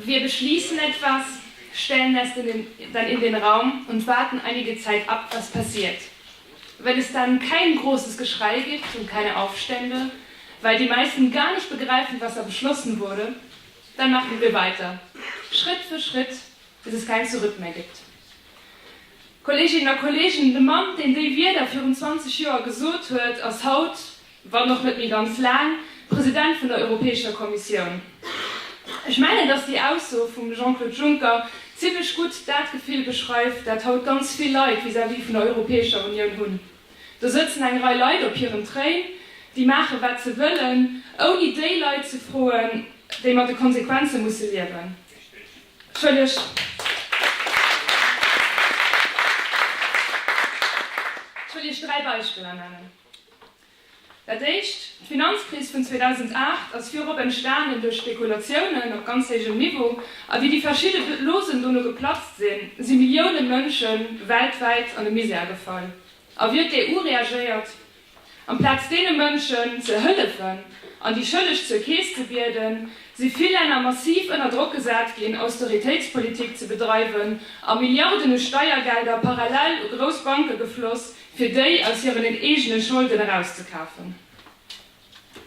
Wir beschließen etwas, stellen es dann in den Raum und warten einige Zeit ab, was passiert. Wenn es dann kein großes Geschrei gibt und keine Aufstände, weil die meisten gar nicht begreifen, was da beschlossen wurde, dann machen wir weiter, Schritt für Schritt, bis es kein Zurück mehr gibt. Kolleginnen a Kollegen, de Mann, deen déi Wieder virun 20 Joer gesot huet, ass haut wann och net méi ganz laang, President vun der Europäescher Kommissioun. Ech mengen, datt déi Ausso vum Jean-Claude Juncker zimlech gutt dat Gefill beschreift, dat haut ganz vill Leit vis-à-vis vun der Europäescher Unioun hunn. Do sëtzen eng Rei Leit op hirem Train, déi maache wat se wëllen, ouni déi Leit ze froen, déi mat de Konsequenze musse liewen. Ech wëll Iech dräi Beispiller nennen. Dat éischt, D'Finanzkris vun 2008 ass virop entstanen duerch Spekulatiounen op ganz héijem Niveau, a wéi déi verschidde Losen dono geplatzt sinn, si Millioune Mënsche weltwäit an de Misär gefall. A wéi huet d'EU reagéiert? Amplaz deene Mënschen ze hëllefen an déi Schëlleg zur Keess ze bieden, si vill Länner massiv ënner Drock gesat ginn, Austeritéitspolitik ze bedreiwen, a Milliarden u Steiergelder parallel u grouss Banke gefloss, fir déi aus hiren eegene Scholden erauszekafen.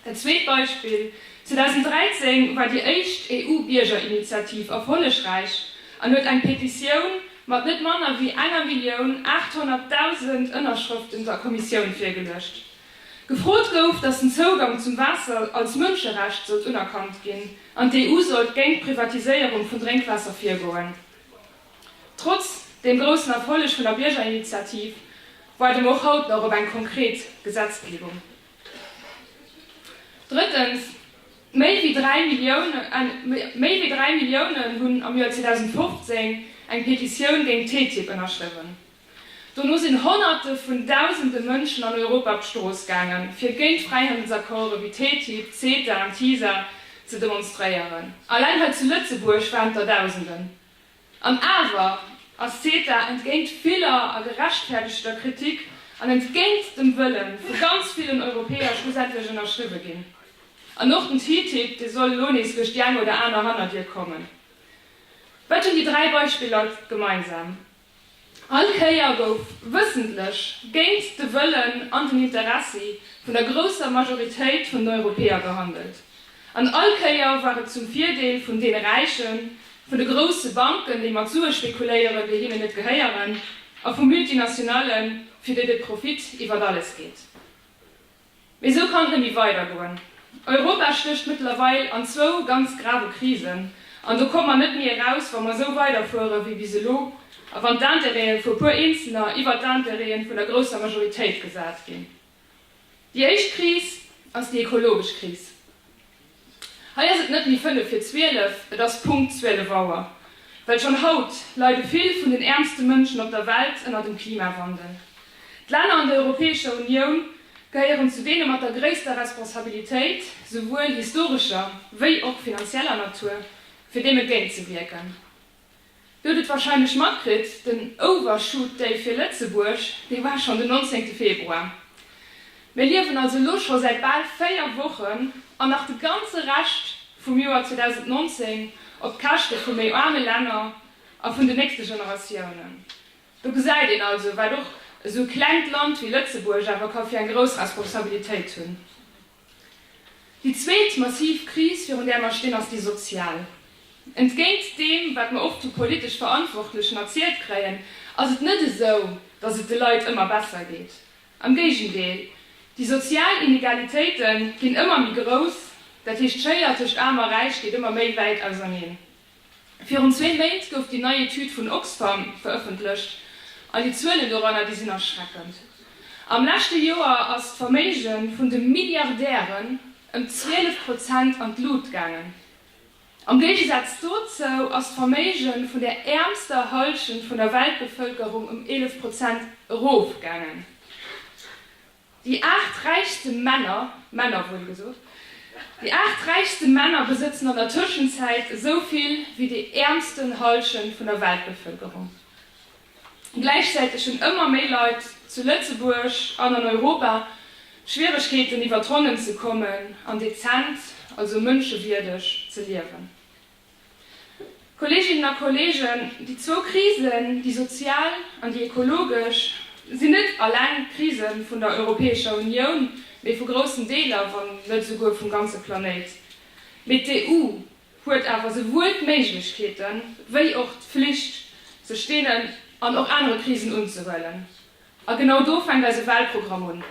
Dat zweet Beispill, 2013 war déi éischt EU-Biergerinitiativ erfollegräich an huet eng Petitioun mat net manner wéi enger Millioun 800.000 Ënnerschrëften der Kommissioun virgeluecht. Gefrot gouf, datt den Zougang zum Waasser als Mënscherecht sollt unerkannt ginn an d'EU sollt géint d'Privatiséierung vun Drénkwaasser virgoen. Trotz dem groussen Erfolleg vun der Biergerinitiativ waarde mer och haut nach op eng konkret Gesetzgebung. Drëttens, Méi wéi 3 Milliounen hunn am Joer 2015 eng Petitioun géint TTIP ënnerschriwwen. Dono sinn Honnerte vun Dausende Mënschen an Europa op d'Strooss gaangen, fir géint Fräihandelsaccorde wéi TTIP, CETA an TISA ze demonstréieren. Alleng hei zu Lëtzebuerg waren et der Dausenden. An awer ass CETA, entgéint viller a gerechtfäerdegter Kritik an entgéint dem Wëlle vu ganz villen Europäer, schlussendlech ënnerschriwwe ginn. An och den TTIP, dee soll elo nees duerch déi eng oder aner Hannerdier kommen. Wat hunn déi dräi Beispiller gemeinsam? All Kéier gouf wëssentlech géint de Wëllen an den Interessi vun der grousser Majoritéit vun den Europäer gehandelt. An all Kéier war et zum Virdeel vun deene Räichen, vun de grousse Banken, déi mat Sue spekuléieren, déi hinnen net gehéieren, a vu Multinationallen, fir déi de Profit iwwert alles geet. Mee esou kann et net méi weidergoen. Europa stécht mëttlerweil an zwou ganz grave Krisen, an do komme mer net méi eraus, wa mer esou weiderfuere wéi bis elo a wann d'Intérêten vu e puer Eenzelner iwwert d'Intérêten vun der grousser Majoritéit gesat ginn. Déi éischt Kris ass déi ekologesch Kris. Hei ass et net méi fënnef fir zwielef, et ass Punkt zwielef Auer, well schonn haut leide vill vun den äermste Mënschen op der Welt ënner dem Klimawandel. D'Länner an der Europäescher Unioun gehéieren zu deene mat der gréisster Responsabilitéit, souwuel historescher wéi och finanzieller Natur, fir deem entgéintzewierken. Dir hutt et warscheinlech matkritt, den Overshoot Day fir Lëtzebuerg, dee war schonn den 19 Februar. Mir liewen also elo scho säit bal 4 Wochen an nach de ganze Rescht vum Joer 2019 op d'Käschte vu méi aarme Länner a vun den nächste Generatiounen. Do gesäit een also, wat och esou e klengt Land wéi Lëtzebuerg awer ka fir eng grouss Responsabilitéit hunn. Déi zweet massiv Kris, virun där mer stinn, ass déi sozial. Entgéint deem, wat mer oft vu politesch Verantwortlechen erzielt kréien, ass et net esou, datt et de Leit ëmmer besser geet. Am Géigendeel, déi sozial Inegalitéite ginn ëmmer méi grouss, dat heescht d'Schéier tëscht Aarm a Räich geet ëmmer méi wäit auserneen. Virun zwee Méint gouf déi nei Etüd vun Oxfam verëffentlecht, an déi Zuelen doranner, déi sinn erschreckend. Am leschte Joer ass d'Verméige vun de Milliardären ëm 12 Prozent an d'Lut gaangen. Am Géigesaz dozou ass d'Verméige vun der äermster Hallschent vun der Weltbevëlkerung ëm 11 Prozent erofgaangen. Déi aacht räichste Männer, Männer wuel gesot, déi aacht räichste Männer besëtzen an der Tëschenzäit esou vill wéi déi äermsten Hallschent vun der Weltbevëlkerung. Gläichzäiteg hunn ëmmer méi Leit zu Lëtzebuerg an an Europa Schwieregkeeten iwwert d'Ronnen ze kommen an dezent, also mënschewierdeg ze liewen. Kolleeginnen a Kolleegen, déi zwou Krisen, déi sozial an déi ekologesch, sinn net alleng d'Krise vun der Europäescher Unioun, mee vu groussen Deeler, wann net esouguer vum ganze Planéit. Mee d'EU huet awer souwuel d'Méiglechkeete wéi och d'Flicht, sech deenen an och anere Krisen unzehuelen. A genau do fänkt eise Wahlprogramm un.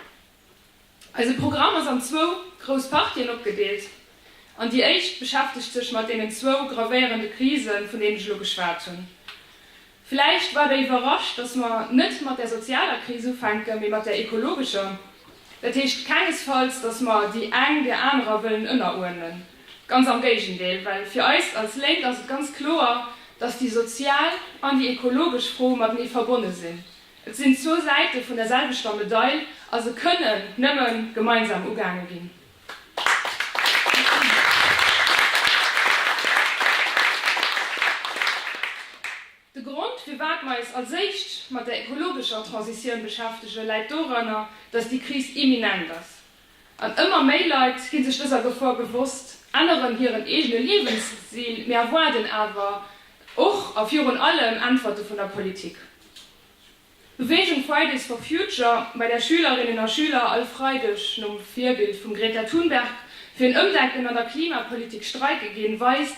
Eise Programm ass an zwou grouss Partien opgedeelt an déi éischt beschäftegt sech mat deenen zwou gravéierende Krisen, vun deenen ech elo geschwat hunn. Vläicht war Der iwwerrascht, dass mer net mat der sozialer Kris ufänken, mee mat der ekologescher. Dat heescht kengesfalls, dass mer déi eng der anerer wëllen ënneruerdnen, ganz am Géigendeel, well fir eis als Lénk ass et ganz kloer, dass déi sozial an déi ekologesch Fro matenee verbonne sinn. Et sinn zwou Säite vun der selwechter Medail a se kënnen nëmme gemeinsam ugaange ginn. De Grond, firwat mer eis als éischt mat der ekologescher Transitioun beschäftegen, läit doranner, datt déi Kris imminent ass. An ëmmer méi Leit gi sech dëser Gefor bewosst, änneren hiren eegene Liewensstil, mee erwaarden awer och a virun allem Äntwerte vun der Politik. D'Beweegung Fridays for Future, bei där Schülerinnen a Schüler all Freideg nom Virbild vum Greta Thunberg fir en Ëmdenken an der Klimapolitik streike ginn, weist,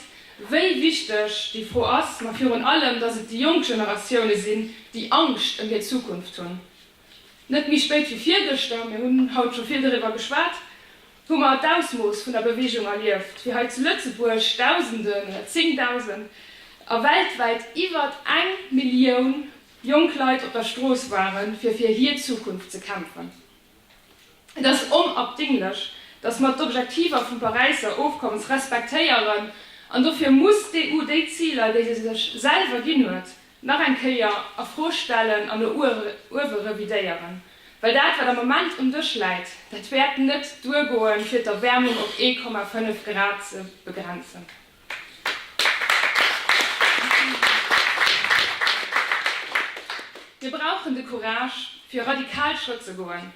wéi wichteg déi Fro ass, ma virun allem, datt et déi jonk Generatioune sinn, déi Angscht ëm hir Zukunft hunn. Net méi spéit wéi virgëschter, mir hunn haut scho vill doriwwer geschwat, hu mer d'Ausmooss vun der Beweegung erlieft, wéi hei zu Lëtzebuerg Dausenden oder Zéngdausend a weltwäit iwwert eng Millioun jonk Leit op der Strooss waren, fir fir hir Zukunft ze kämpfen. Et ass onabdinglech, dass mer d'Objektiver vum Paräisser Ofkommes respektéieren an dofir muss d'EU déi Ziler, déi se sech selwer ginn huet, nach eng Kéier a Fro stellen an no uewe revidéieren, well dat, wat am Moment um Dësch läit, dat wäert net duergoen, fir d'Erwäermung op 1,5 Grad ze begrenzen. Mir brauchen de Courage, fir radikal Schrëtt ze goen.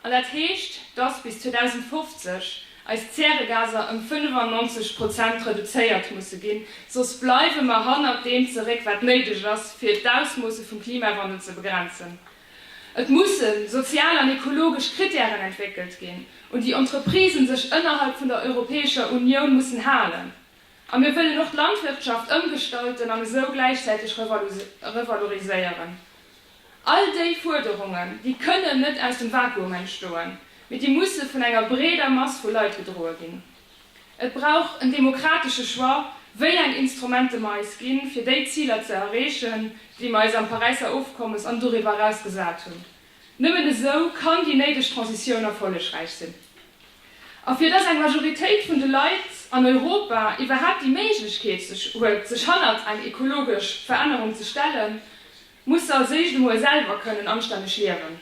An dat heescht, dass bis 2050 eis Zäregaser ëm 95 Prozent reduzéiert musse ginn, soss bleiwe mer hannert deem zeréck, wat néideg ass, fir d'Ausmoosse vum Klimawandel ze begrenzen. Et musse sozial an ekologesch Krittären entwéckelt ginn, un déi Entreprisë sech ënnerhalb vun der Europäescher Unioun mussen halen. A mir wëllen och d'Landwirtschaft ëmgestalten an esou gläichzäiteg revaloriséieren. All déi Fuerderungen, déi kënnen net aus dem Vakuum entstoen, mee déi musse vun enger breeder Mass vu Leit gedroe ginn. Et brauch en demokratesche Choix, wéi eng Instrumente mer eis ginn, fir déi Ziler ze erreechen, déi mer eis am Paräisser Ofkommes an doriwwer eraus gesat hunn. Nëmmen esou kann déi néideg Transitioun erfollegräich sinn. A fir dass eng Majoritéit vun de Leit an Europa iwwerhaapt déi Méiglechkeet huet, sech hannert eng ekologesch Verännerung ze stellen, Muss se als éischt emol selwer kënnen anstänneg liewen.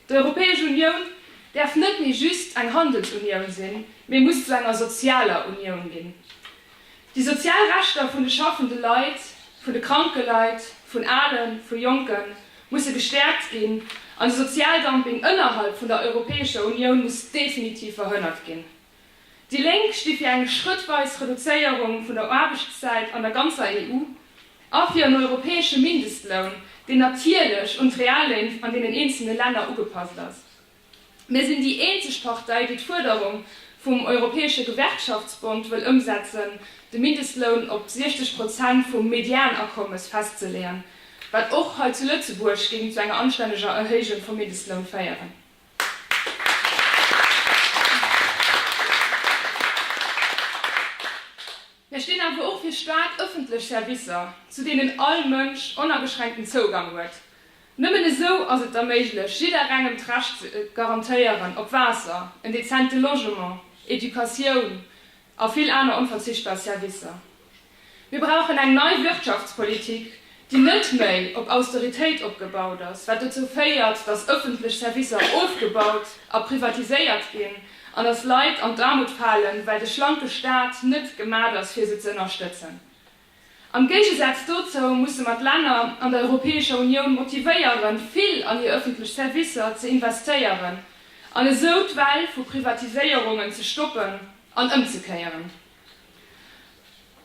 D'Europäesch Unioun däerf net méi just eng Handelsunioun sinn, mee muss zu enger sozialer Unioun ginn. Déi sozial Rechter vun de schaffende Leit, vun de kranke Leit, vun Alen, vu Jonke musse gestäerkt ginn an de Sozialdumping ënnerhalb vun der Europäescher Unioun muss definitiv verhënnert ginn. Déi Lénk sti fir eng schrëttweis Reduzéierung vun der Aarbechtszäit an der ganzer EU a fir en europäesche Mindestloun, deen natierlech un d'Reallén an deenen eenzelne Länner ugepasst ass. Mir sinn déi eenzeg Partei, déi d'Fuerderung vum Europäesche Gewerkschaftsbond wëll ëmsetzen, de Mindestloun op 60 Prozent vum Medianakommes festzeleeën, wat och hei zu Lëtzebuerg géing zu enger anstänneger Erhéijung vum Mindestloun féieren. Mir stinn awer och fir staark ëffentlech Servicer, zu deenen all Mënsch onageschränkten Zougang huet. Nëmmen esou ass et da méiglech, jidderengem d'Recht ze garantéieren op Waasser, en dezente Logement, Educatioun a vill aner onverzichtbar Servicer. Mir brauchen eng nei Wirtschaftspolitik, déi net méi op Austeritéit opgebaut ass, wat dozou féiert, datt ëffentlech Servicer ofgebaut a privatiséiert ginn an datt Leit an d'Aarmut falen, well de schlanke Staat net gemat ass, fir se ze ënnerstëtzen. Am Géigesaz dozou musse mer d'Länner an der Europäescher Unioun motivéieren, vill an hir ëffentlech Servicer ze investéieren an esou d'Well vu Privatiséierungen ze stoppen an ëmzekéieren.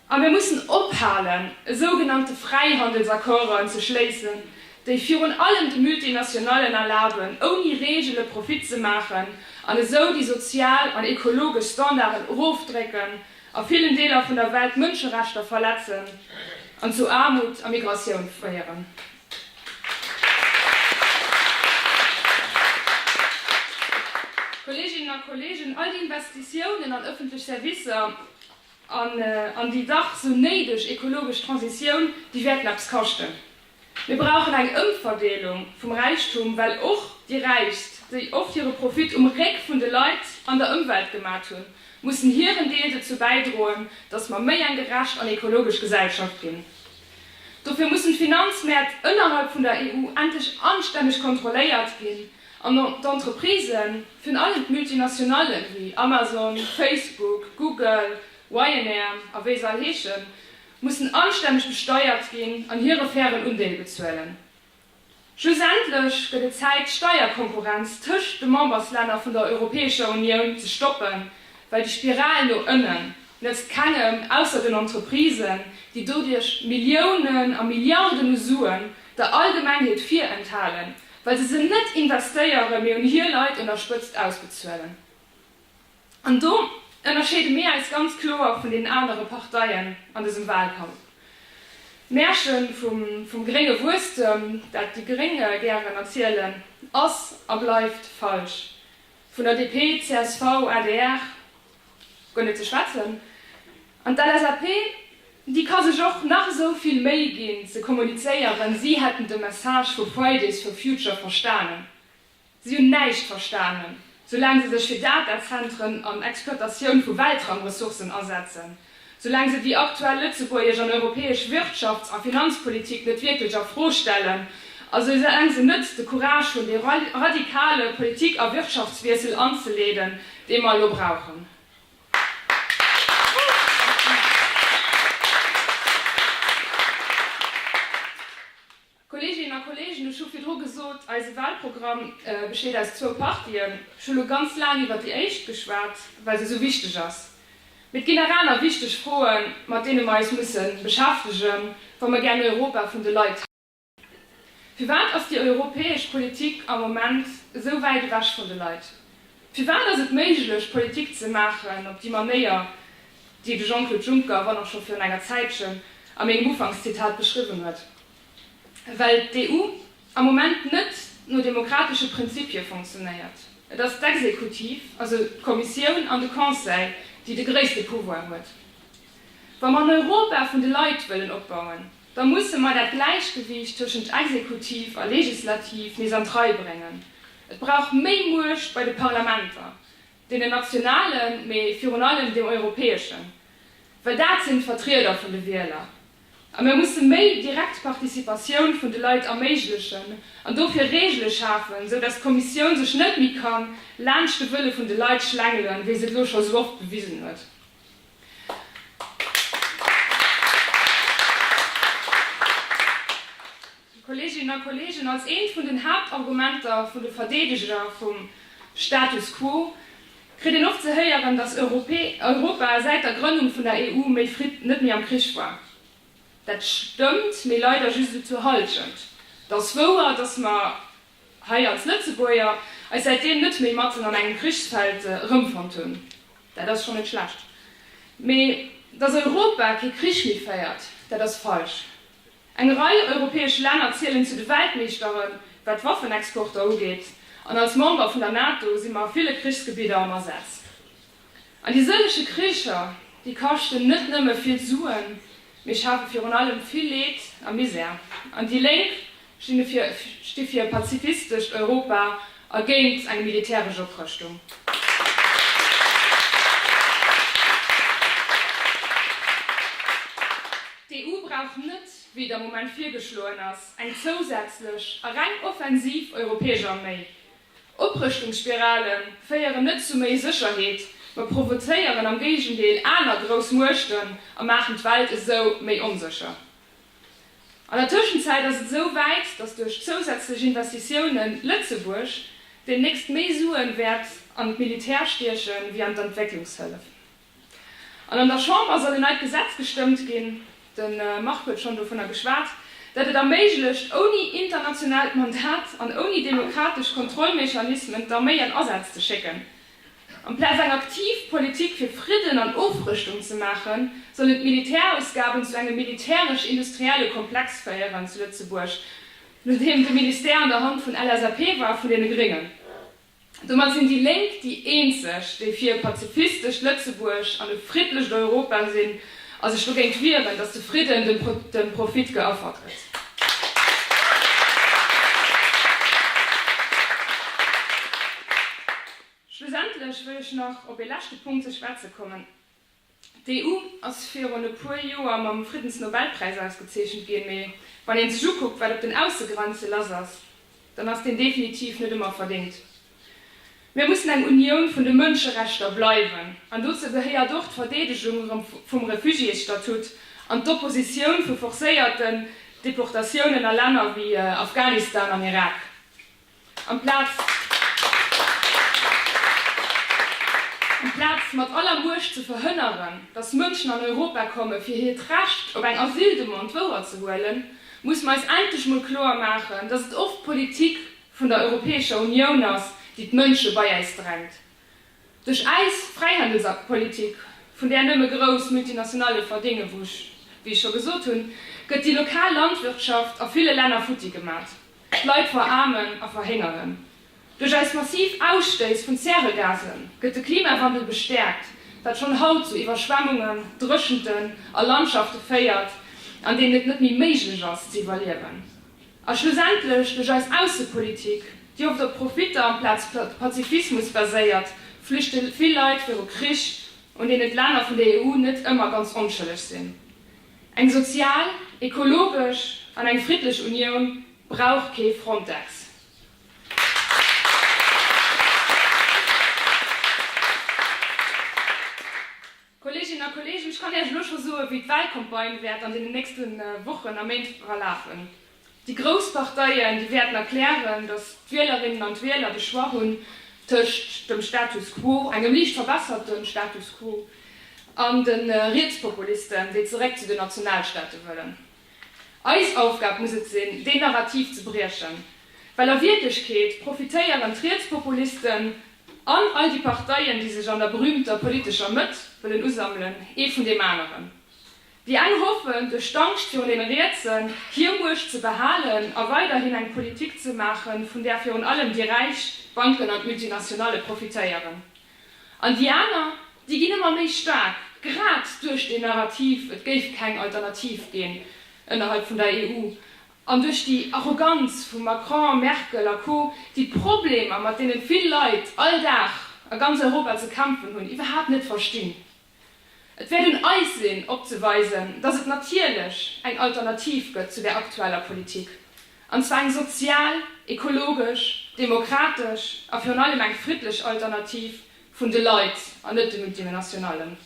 A mir mussen ophalen, esou genannte Fräihandelsaccorden ze schléissen, déi virun allem de Multinationallen erlaben, ouni Reegele Profit ze maachen an esou déi sozial an ekologesch Standarden erofdrécken, a villen Deeler vun der Welt d'Mënscherechter verletzen an zu Aarmut a Migratioun féieren. Kolleeginnen a Kolleegen, all déi Investitiounen an ëffentlech Servicer an an déi dach sou néideg ekologesch Transitioun, déi wäerten eppes kaschten. Mir brauchen eng Ëmverdeelung vum Räichtum, well och déi Räichst, déi oft hire Profit um Réck vun de Leit an der Ëmwelt gemat hunn, mussen hiren Deel dozou bäidroen, dass mer méi eng gerecht an ekologesch Gesellschaft ginn. Dofir mussen d'Finanzmäert ënnerhalb vun der EU endlech anstänneg kontrolléiert ginn an d'Entreprisen, virun allem d'Multinationallen wéi Amazon, Facebook, Google, Ryanair a wéi se all heeschen, mussen anstänneg besteiert ginn an hire fairen Undeel bezuelen. Schlussendlech gëtt et Zäit d'Steierkonkurrenz tëscht de Memberslänner vun der Europäescher Unioun ze stoppen, well déi Spiral no ënnen nëtzt kengem, ausser den Entreprisen, déi doduerch Milliounen a Milliarden u Suen der Allgemengheet virenthalen, well se se net investéieren, mee un hir Leit un der Spëtzt ausbezuelen. An do ënnerscheede mir eis ganz kloer vun den anere Parteien an dësem Wahlkampf. D'Märche vum grénge Wuesstem, dat déi gréng gären erzielen, ass a bleift falsch. Vun der DP, csv, adr guer net ze schwätzen. An d'LSAP, déi ka sech och nach esou vill Méi ginn ze kommunizéieren, si hätten de Message vu Fridays for Future verstanen, Si hunn näischt verstanen, soulaang se sech fir Datazentren an Exploitatioun vu Weltraumressourcen asetzen, soulaang se déi aktuell lëtzebuergesch an europäesch Wirtschafts a Finanzpolitik net wierklech a Fro stellen a soulaang se net de Courage hunn, dee radikale Politik a Wirtschaftswiessel anzeleeden, dee mer elo brauchen. Kolleeginnen a Kolleegen, ech hu virdru gesot, eise Wahlprogramm besteet aus zwou Partien. Ech hu elo ganz laang iwwert déi éischt geschwat, well se esou wichteg ass. Mee et ginn nach aner wichteg Froen, mat deene mer eis musse beschäftegen, wa mer gären Europa vun de Leit hätten. Firwat ass déi europäesch Politik am Moment esou wäit ewech vun de Leit? Firwat ass et méiglech, Politik ze maachen op déi Manéier, déi de Jean-Claude Juncker, wann och scho virun enger Zäitchen, a mengem Ufankszitat beschriwwen huet? Well d'EU am Moment net no demokratesche Prinzipie fonctionnéiert. Et ass d'Exekutiv, also d'Kommissioun an de Conseil, déi de gréisste Pouvoir huet. Wa mer en Europa vun de Leit wëllen opbauen, da musse mer dat Gläichgewiicht tëschent Exekutiv a Legislativ nees an d'Rei bréngen. Et brauch méi Muecht bei de Parlamenter, deenen nationalen, mee virun allem deem europäeschen, well dat sinn d'Vertrieder vun de Wieler. A mir musse méi direkt Participatioun vun de Leit erméiglechen an dofir Regele schafen, sou datt d'Kommissioun sech net méi ka laanscht de Wëlle vun de Leit schlängelen, wéi se et elo scho sou oft bewisen huet. Déi Kolleeginnen a Kolleegen, als eent vun den Haaptargumenter vun de Verdeedeger vum Status quo kritt een oft ze héieren, datt Europa säit der Grënnung vun der EU méi fritt net méi am Krich war. Dat stëmmt, mee leider just esou zur Halschent. Et ass wouer, datt mer hei als Lëtzebuerger eis säitdeem net méi matten an engem Krichsfeld erëmfonnt hunn. Dat ass schonn net schlecht. Mee datt Europa kee Krich méi féiert, dat ass falsch. Eng Rei europäesch Länner zielen zu de Weltmeeschteren, wat d'Waffenexporter ugeet, an als Member vun der NATO si mer a ville Krichsgebidder am Asaz. An déi sëllege Kricher, déi kaschten net nëmme vill Suen, mee schafe virun allem vill Leed a Misär. An déi Lénk sti fir e pazifistescht Europa a géint eng militäresch Oprëschtung. D'EU brauch net, wéi et am Moment virgeschloen ass, eng zousätzlech a reng offensiv europäesch Arméi. Oprëschtungsspirale féieren net zu méi Sécherheet, ma provozéieren am Géigendeel aner grouss Muechten a maachen d'Welt esou méi onsécher. An der Tëschenzäit ass et esou wäit, datt duerch zousätzlech Investitiounen Lëtzebuerg demnächst méi Suen wäert an d'Militär stiechen, wéi an d'Entwécklungshëllef. An an der Chamber soll en neit Gesetz gestëmmt ginn, de Marc huet schonn dovunner geschwat, dat et erméiglecht, ouni internationaalt Mandat an ouni demokratesch Kontrollmechanismen d'Arméi an Asätz ze schécken. Amplaz eng aktiv Politik fir Fridden an Ofrëschtung ze maachen, sollen d'Militärausgaben zu engem militäresch-industrielle Komplex féieren zu Lëtzebuerg, nodeem de Ministère an der Hand vun LSAP war, vun deene Gréngen. Domat sinn déi Lénk déi eenzeg, déi fir e pazifistescht Lëtzebuerg an e friddlecht Europa sinn a sech dogéint wieren, datt de Fridden dem Profit geaffert gëtt. Schlussendlech wëll ech nach op ee leschte Punkt ze schwätze kommen. D'EU ass virun e puer Joer mam Friddensnobelpräis ausgezeechent ginn, mee wann ee sech ukuckt, wat op den Aussegrenze lass ass, dann ass deen definitiv net ëmmer verdéngt. Mir mussen eng Unioun vun de Mënscherechter bleiwen, an dozou gehéiert och d'Verdeedegung vum Refugiésstatut an d'Oppositioun vu forcéierten Deportatiounen a Länner wéi Afghanistan an Irak. Amplaz mat aller Muecht ze verhënneren, datt Mënschen an Europa komme fir hiert Recht op eng Asyldemande wouerzehuelen, muss mer eis endlech mol kloer maachen, datt et oft d'Politik vun der Europäescher Unioun ass, déi d'Mënsche bei äis drängt. Duerch äis Fräihandelspolitik, vun där nëmme grouss Multinationale verdénge, wou ech, wéi ech scho gesot hunn, gëtt déi lokal Landwirtschaft a ville Länner futti gemat. D'Leit veraarmen a verhéngeren. Duerch eis massiv Ausstéiss vun Zäregase gëtt de Klimawandel bestäerkt, wat schonn haut zu Iwwerschwemmungen, Dréchenten a Landschafte féiert, an deenen et net méi méiglech ass ze iwwerliewen. A schlussendlech duerch eis Aussepolitik, déi oft op Profitter amplaz Pazifismus baséiert, flüchte vill Leit viru Krich, un deenen d'Länner vun der EU net ëmmer ganz onschëlleg sinn. Eng sozial, ekologesch an eng friddlech Unioun brauch kee Frontex. Kolleeginnen a Kolleegen, ech kann Iech elo scho soen, wéi d'Wahlcampagne wäert an deenen nächste Wochen a Méint verlafen. Déi grouss Parteien, déi wäerten erklären, datt d'Wielerinnen an d'Wieler de Choix hunn tëscht dem Status quo, engem liicht verbesserte Status quo, an de Rietspopulisten, déi zeréck zu den Nationalstaate wëllen. Eis Aufgab muss et sinn, deen Narrativ ze briechen, well a Wierklechkeet profitéieren d'Rietspopulisten an all déi Parteien, déi sech an der berühmter politescher Mëtt wëllen usammelen, ee vun deem aneren. Déi eng hoffen, duerch d'Angscht virun deene Rietsen, hir Muecht ze behalen a weiderhin eng Politik ze maachen, vun där virun allem déi Räich, d'Banken an d'Multinationale profitéieren. An déi aner, déi ginn ëmmer méi staark, grad duerch deen Narrativ, et géif keng Alternativ ginn ënnerhalb vun der EU, an duerch déi Arroganz vum Macron, Merkel a Co, déi d'Problemer, mat deene vill Leit all Dag a ganz Europa ze kämpfen hunn, iwwerhaapt net verstinn. Et wäert un eis sinn opzeweisen, datt et natierlech eng Alternativ gëtt zu där aktueller Politik, an zwar eng sozial, ekologesch, demokratesch a virun allem eng friddlech Alternativ vun de Leit an net de Multimenationallen.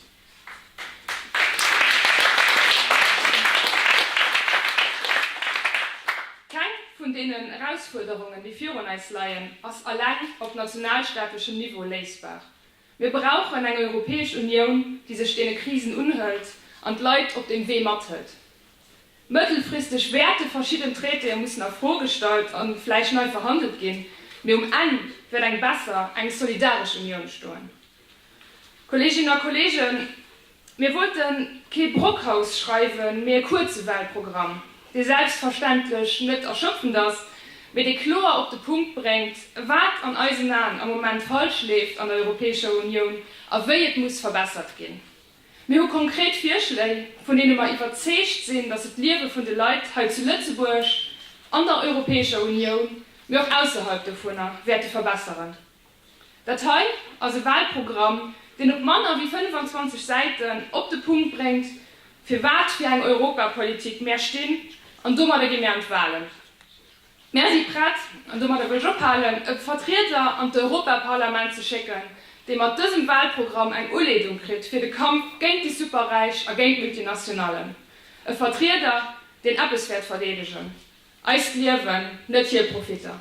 Keng vun deenen Erausfuerderungen, déi virun eis leien, ass alleng op nationalstaatlechem Niveau léisbar. Mir brauchen eng Europäesch Unioun, déi sech deene Krisen unhëlt an d'Leit op deem Wee mathëlt. Mëttelfristeg wäerte verschidden Traitéë mussen a Fro gestallt a vläicht nei verhandelt ginn, mee um Enn wäert eng besser, eng solidaresch Unioun stoen. Kolleeginnen a Kolleegen, Mir wollten kee Brockhaus schreiwen, mee e kuerze Wahlprogramm, dee selbstverständlech net erschöpfend ass, mee dee kloer op de Punkt bréngt, wat an eisen Aen am Moment falsch leeft an der Europäescher Unioun a wéi et muss verbessert ginn. Mir hu konkret Virschléi, vun deene mer iwwerzeegt sinn, datt se d'Liewe vun de Leit hei zu Lëtzebuerg, an der Europäescher Unioun, mee och ausserhalb dovunner, wäerte verbesseren. Dat hei ass e Wahlprogramm, deen op manner wéi 25 Säiten op de Punkt bréngt, fir wat fir eng Europapolitik mär stinn, an domadder gi mär an d'Wahlen. Mär si prett, an domadder wëll ech ophalen, e Vertrieder an d'Europaparlament ze schécken, dee mat dësem Wahlprogramm eng Uleedung kritt fir de Kampf géint déi Superräich a géint d'Multinationallen, e Vertrieder, deen eppes wäert verdeedegen. Eist Liewen, net hir Profitter.